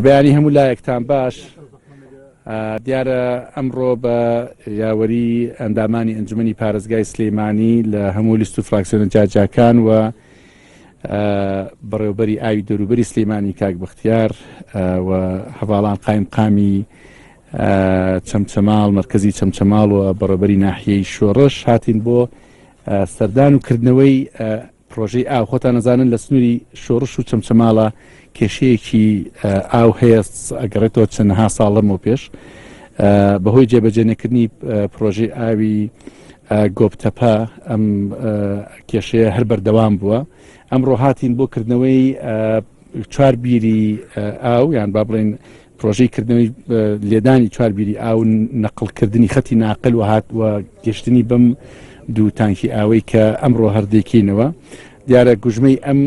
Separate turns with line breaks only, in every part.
بەیانی هەموو لایەکتان باش دیارە ئەمڕۆ بە یاوەری ئەندامانی ئەنجومی پارێزگای سلەیمانی لە هەموو لیست و فراکسیۆنە جاجاکان و بەڕێوبەری ئاوی دەوروبەری سلەیمانی کاک بەختیار و هەواڵان قایم قامی چەمچەماڵ مرکزی چەمچەماڵ و بەڕێبەری ناحیەی شۆڕش هاتین بۆ سەردان و کردنەوەی پرۆژەی ئاو، خۆتان ئەزانن لە سنووری شۆڕش و چەمچەماڵە کێشەیەکی ئاو هەیە، ئەگەڕێتەوە چەندەها ساڵ لەمەو پێش بەهۆی جێبەجێ نەکردنی پرۆژەی ئاوی گۆپتەپە ئەم کێشەیە هەر بەردەوام بووە ئەمڕۆ هاتین بۆ کردنەوەی چوار بیری ئاو یان با بڵێن پرۆژەی کردنەوەی لێدانی چوار بیری ئاو نەقلکردنی خەتی ناقل و هات و گەشتنی بەم دوو تانکی ئاوەی کە ئەمڕۆ هەردێکینەوە دیارە گوژمەی ئەم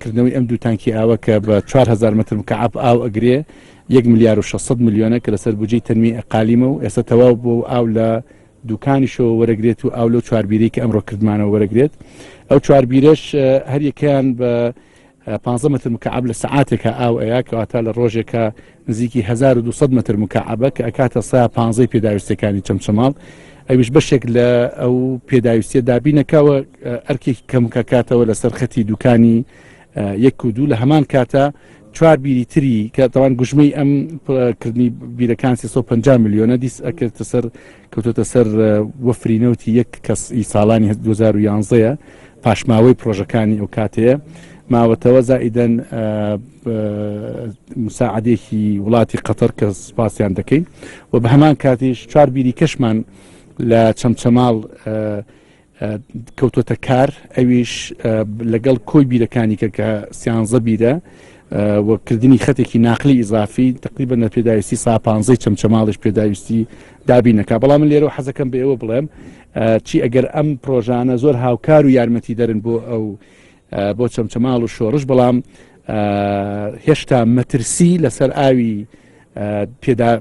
کردنەوەی ئەم دوو تانکی ئاوە کە بە 4هزار متر مکعب ئاو ئەگرێ 1 ملیار و 600 میلیۆنە کە لەسەر بجی تەنمی ئەقالیمە و ئێستا تەواو بۆ ئاو لە دوکانیشەوە وەرەگرێت و ئاو لەو چواربیری کە ئەمڕۆ کردمانەوە وەرەگرێت ئەو چواربیرەش هەریەکەیان بە پانزە مەتر مکەعەب لە سەعاتێکا ئاو ئەیا کەواتە لە ڕۆژێکە نزیکی 1200 مەتر مکەعەبە کە ئەکاتە سا پانزەی پێداویستەکانی چەمچەماڵ ئەویش بەشێک لە ئەو پێداویستە دابینەکەوە ئەرکێکی کەمکەکاتەوە لەسەر خەتی دوکانی یەک و دوو لە هەمان کاتە چوار بیری تری کە تەوان گوژمەی ئەم کردنی بیرەکان 350 میلیۆنە دیس ئەکرد سەر کەوتۆتە سەر وەفری نەوتی یەک کەس ئی ساڵانی 2011ە پاشماوەی پرۆژەکانی ئەو کاتەیە ماوەتەوە زائیدەن مساعدێکی وڵاتی قەتەر کە سپاسیان دەکەین و بە هەمان کاتیش چوار بیری کەشمان لە چەمچەماڵ کەوتۆتە کار ئەویش لەگەڵ کۆی بیرەکانیکە کە سیانزە بیرە و کردنی خەتێکی ناخلی ئیزافی تقریبا نە پێداویستی ساپانزەی چەمچەماڵش پێداویستی دابینەکە بەڵام من لێرەوە حەزەکەم بە ئێوە بڵێم چی ئەگەر ئەم پرۆژانە زۆر هاوکار و یارمەتی دەرن بۆ ئەو بۆ چەمچەماڵ و شۆڕش بەڵام هێشتا مەترسی لەسەر ئاوی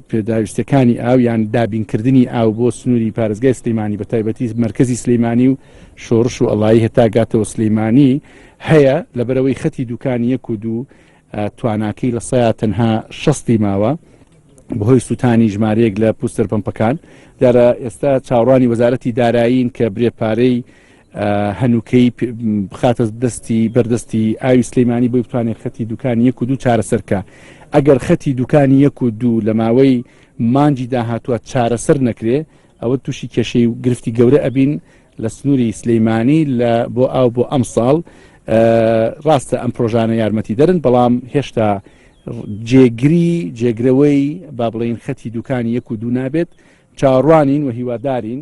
پێداویستەکانی ئاویان دابینکردنی ئاو بۆ سنووری پارێزگای سلیمانی بە تایبەتی مرکزی سلیمانی و شۆڕش و ئەڵایی هەتا گاتەوە سلیمانی هەیە لە بەرەوەی خەتی دوکان یەک و دوو تواناکەی لە سەیا تەنها شەستی ماوە بەهۆی سووتانی ژمارەیەک لە پوستەر پمپەکان دارە ئێستا چاوڕانی وەزارەتی دارایین کە برێ پارەی هەنووکەی بخاتە دەستی بەردەستی ئاوی سلەیمانی بۆی بتوانێت خەتی دوکان یەک و دوو چارەسەرکە ئەگەر خەتی دوکانی یەک و دوو لە ماوەی مانجی داهاتوە چارەسەر نەکرێ ئەوە تووشی کێشەی و گرفتی گەورە ئەبین لە سنووری سلەیمانی لە بۆ ئاو بۆ ئەم ساڵ ڕاستە ئەم پرۆژانە یارمەتی دەرن بەڵام هێشتا جێگری جێگرەوەی با بڵین خەتی دوکانی یەک و دوو نابێت چاڕوانین و هیوادارین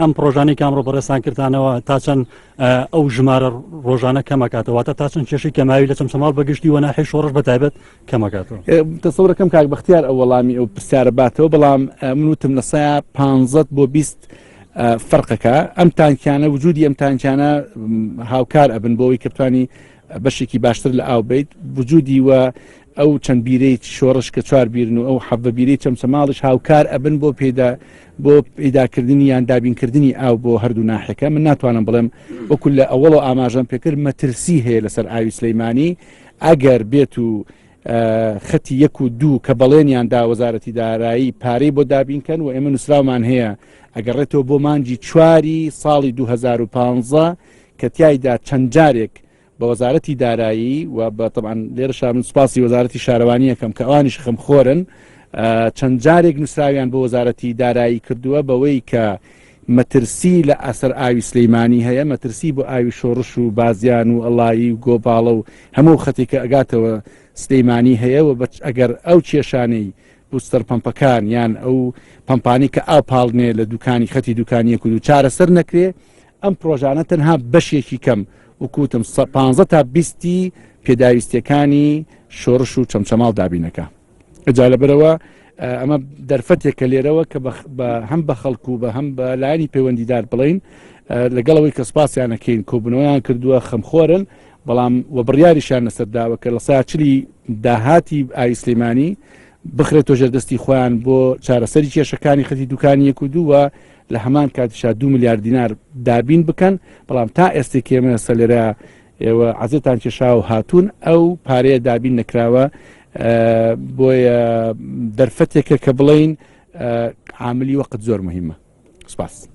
ئەم پرۆژانەی کامڕۆ بەڕێسان کردانەوە تا چەند ئەو ژمارە ڕۆژانە کەمەکاتەوە تا تا چەند کێشی کەماوی لە چەم چماڵ بەگشتی وە ناحی شۆڕش بەتایبەت کەمەکاتەوە تەسەورەکەم کاک
بەختیار ئەو وەڵامی ئەو پرسیارە باتەوە بەڵام منوتم لە سایا پ بۆ بیست فەرقەکە ئەم تانکیانە وجودی ئەم تانکیانە هاوکار ئەبن بۆەوەی کەپتانی بەشێکی باشتر لە ئاو بیت وجودی وە ئەو چەند بیرەی شۆڕش کە چوار بیرن و ئەو حەبە بیری چەمچەماڵش هاوکار ئەبن بۆ پێدا بۆ پیداکردنی یان دابینکردنی ئاو بۆ هەردوو ناحەکە من ناتوانم بڵێم وەکو لە ئەوڵ و ئاماژەم پێکرد مەترسی هەیە لەسەر ئاوی سلەیمانی ئەگەر بێت و خەتی یەک و دوو کە بەڵێنیان دا وەزارەتی دارایی پارەی بۆ دابینکەن و ئێمە نووسراومان هەیە ئەگەڕێتەوە بۆ مانجی چواری ساڵی 2015 کە تایدا چەند جارێک بە وەزارەتی دارایی و بە تەبان لێرەشا من سوپاسی وەزارەتی شارەوانیەکەم کە ئەوانیش خەمخۆرن چەند جارێک نووسراویان بۆ وەزارەتی دارایی کردووە بەوەی کە مەترسی لە ئەسەر ئاوی سلەیمانی هەیە مەترسی بۆ ئاوی شۆڕش و بازیان و ئەڵایی و گۆپاڵە و هەموو خەتێکە ئەگاتەوە سلەیمانی هەیە و بەچ ئەگەر ئەو کێشانەی بوستەر پمپەکان یان ئەو پمپانی کە ئاپاڵنێ لە دوکانی خەتی دوکانیەک و دوو چارەسەر نەکرێ ئەم پرۆژانە تەنها بەشێکی کەم وکوتم سە پانزە تا بیستی پێداویستیەکانی شۆرش و چەمچەماڵ دابینەکە ئەجا لەبەرەوە ئەمە دەرفەتێک کە لێرەوە کە بە هەم بە خەڵکو و بە هەم بە لایانی پەیوەندیدار بڵین لەگەڵەوەی کە سپاسیانەکەین کۆبنەوەیان کردووە خەمخۆرن بەڵام و بڕیاریشان لەسەرداوە کە لە ساچلی داهاتی ئایسلیمانی بخرێتۆ ژێردەستی خۆیان بۆ چارەسەری کێشەکانی خەتی دوکانیەک و دووە لە هەمان کاتیشا دوو ملیار دینار دابین بکەن بەڵام تا ئێستی کێمە سەلێرا ئێوە عزێتان کێشا و هاتوون ئەو پارەیە دابین نەکراوە بۆیە دەرفەتێکە کە بڵین عاملی وەقت زۆر مهمە سپاس.